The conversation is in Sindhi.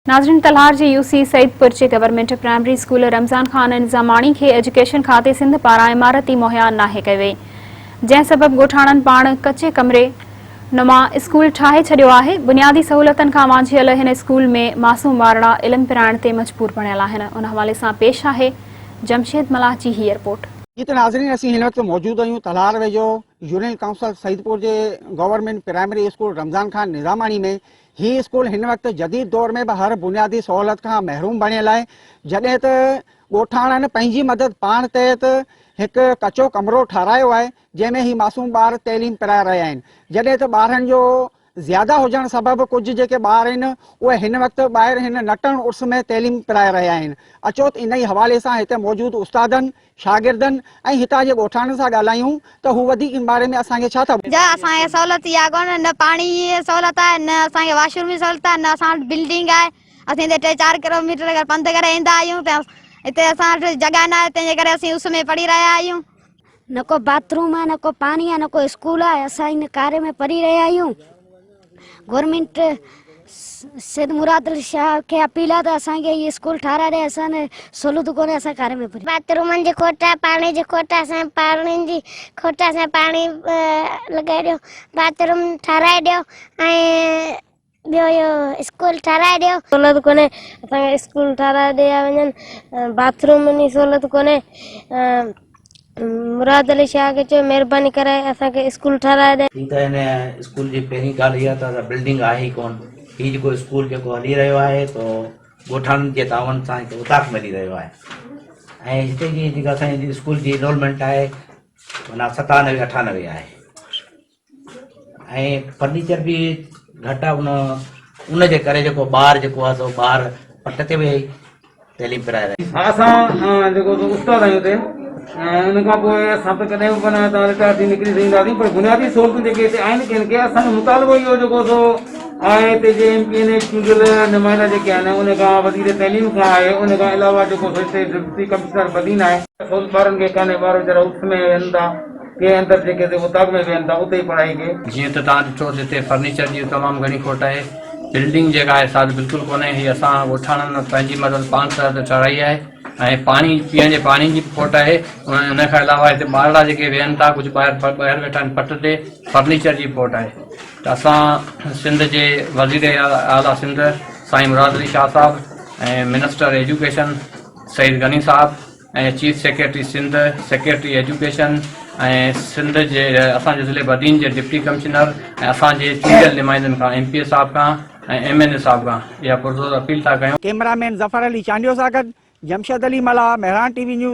ناظرين ڪلهار جي يو سي سعيدپور جي government primary school Ramzan Khan Nizamani کي ايجوڪيشن کاتي سنڌ پاران عمارت ئي مهيا ناهي ڪئي وئي جنهن سبب ڳوٺاڻن پاڻ ڪچي ڪمري نما اسڪول ٺاهي ڇڏيو آهي بنيادي سهولتن کان وانجهيل هن اسڪول ۾ معصوم ٻارڙا علم پرائڻ تي مجبور بڻيل آهن ان حوالي سان پيش آهي جمشيد ملاح جي هي رپورٽ. جي ته ناظرين اسين هن وقت موجود آهيون ڪلهار ويجهو يونين ڪائونسل سعيدپور جي government primary school Ramzan Khan Nizamani ۾ هي اسڪول هن وقت جديد دور ۾ به هر بنيادي سهولت کان محروم بڻيل آهي، جڏهن ته ڳوٺاڻن پنهنجي مدد پاڻ تحت هڪ ڪچو ڪمرو ٺاهرايو آهي، جنهن ۾ هي معصوم ٻار تعليم پرائي رهيا آهن، جڏهن ته ٻارن جو زياده هجڻ سبب ڪجهه جيڪي ٻار آهن، اهي هن وقت ٻاهر هن نٽڻ عرس ۾ تعليم پرائي رهيا آهن، اچوت انهي حوالي سان هتي موجود استادن شاگردن ۽ هتان جي ڳوٺاڻن سان ڳالهايون ته هو وڌيڪ ان باري ۾ اسان کي ڇا ٿا ٻڌائين. اسان کي سهولت اها ڪونه آهي نه پاڻي جي سهولت آهي نه اسان کي واش روم جي سهولت آهي نه اسان وٽ بلڊنگ آهي اسين هتي ٽي چار ڪلو ميٽر اگر پنڌ ڪري ايندا آهيون ته هتي اسان وٽ جڳهه ناهي تنهن جي ڪري اسين اس ۾ پڙهي رهيا آهيون. نه ڪو باٿ روم آهي نه ڪو پاڻي آهي نه ڪو اسڪول آهي اسان هن ڪاري ۾ پڙهي رهيا آهيون. گورنمينٽ سيد مراد علي شاهه کي اپيل آهي ته اسان کي هي اسڪول ٺاهرائي ڏي اسان کي سهولت ڪونهي اسان گهر ۾ پوري باتھ رومن جي کوٽ آهي پاڻي جي کوٽ آهي اسان کي پاڻي جي کوٽ آهي اسان کي پاڻي لڳائي ڏيو باتھ روم ٺاهرائي ڏيو ۽ ٻيو اهو اسڪول ٺاهرائي ڏيو. سهولت ڪونهي اسان کي اسڪول ٺاهرائي ڏيا وڃن باتھ رومن جي سهولت ڪونهي مراد علي شاهه کي چيو مهرباني ڪري اسان کي اسڪول ٺهرائي ڏي. هي ته هن اسڪول جي پهرين ڳالهه هي ته بلڊنگ آهي ئي ڪونه. هي جيڪو اسڪول جيڪو هلي رهيو آهي سو ڳوٺاڻن جي تعاون سان هتي اوطاق ملي رهيو آهي ۽ هتي جي جيڪا اسان جي اسڪول جي انرولمينٽ آهي معنيٰ ستانوي اٺانوي آهي. ۽ فرنيچر به گهٽ آ ان ان جي ڪري جيڪو ٻار جيڪو آ سو ٻار پٽ تي ويهي تعليم پرائي رهي. ها اسان جيڪو سو استاد آهيون اتي ۽ ان کان پوء اسان ته ڪڏهن به معنيٰ هتان رٽائر ٿي نڪري سگهنداسين پر بنيادي سهولتون جيڪي هتي آهن ڪن کي اسان جو مطالبو اهو جيڪو سو آهي هتي جي ايم پي اين اي چونڊيل نمائندا جيڪي آهن ان کان وزير تعليم کان آهي ان کان علاوه جيڪو سو هتي ڊپٽي ڪمشنر بدين آهي سهولت ٻارن کي ڪانهي ٻار ويچارا اٺ ۾ ويهن ٿا. ڪي اندر جي ڪنهن اوطاق ۾ ويهن ٿا اتي ئي پڙهائي ڪي. جيئن ته توهان ڏٺو ته هتي فرنيچر جي تمام گهڻي کوٽ آهي. بلڊنگ جيڪا آهي سا ته بلڪل ڪونهي. هي اسان ڳوٺاڻن پنهنجي مدد پاڻ سر تي ٺهرائي آهي ۽ پاڻي پيئڻ جي پاڻي جي به کوٽ آهي. ان کان علاوه هتي ٻارڙا جيڪي ويهن ٿا ڪجهه ٻاهر ٻاهر ويٺا آهن پٽ تي فرنيچر جي کوٽ آهي ته اسان سنڌ جي وزير اعليٰ سنڌ سائين مراد علي شاهه صاحب ۽ minister education Syed Ghani Sahib ۽ chief secretary Sindh, secretary education ۽ Sindh جي اسان جي ضلعي بدين جي ڊپٽي ڪمشنر ۽ اسان جي چونڊيل نمائندن کان ايم پي اي صاحب کان ۽ ايم اين اي صاحب کان اها پرزور اپيل ٿا ڪيون. ڪئميرا مين ظفر علي چانڊيو سان گڏ Jamshed Ali Mallah, Mehran T V news.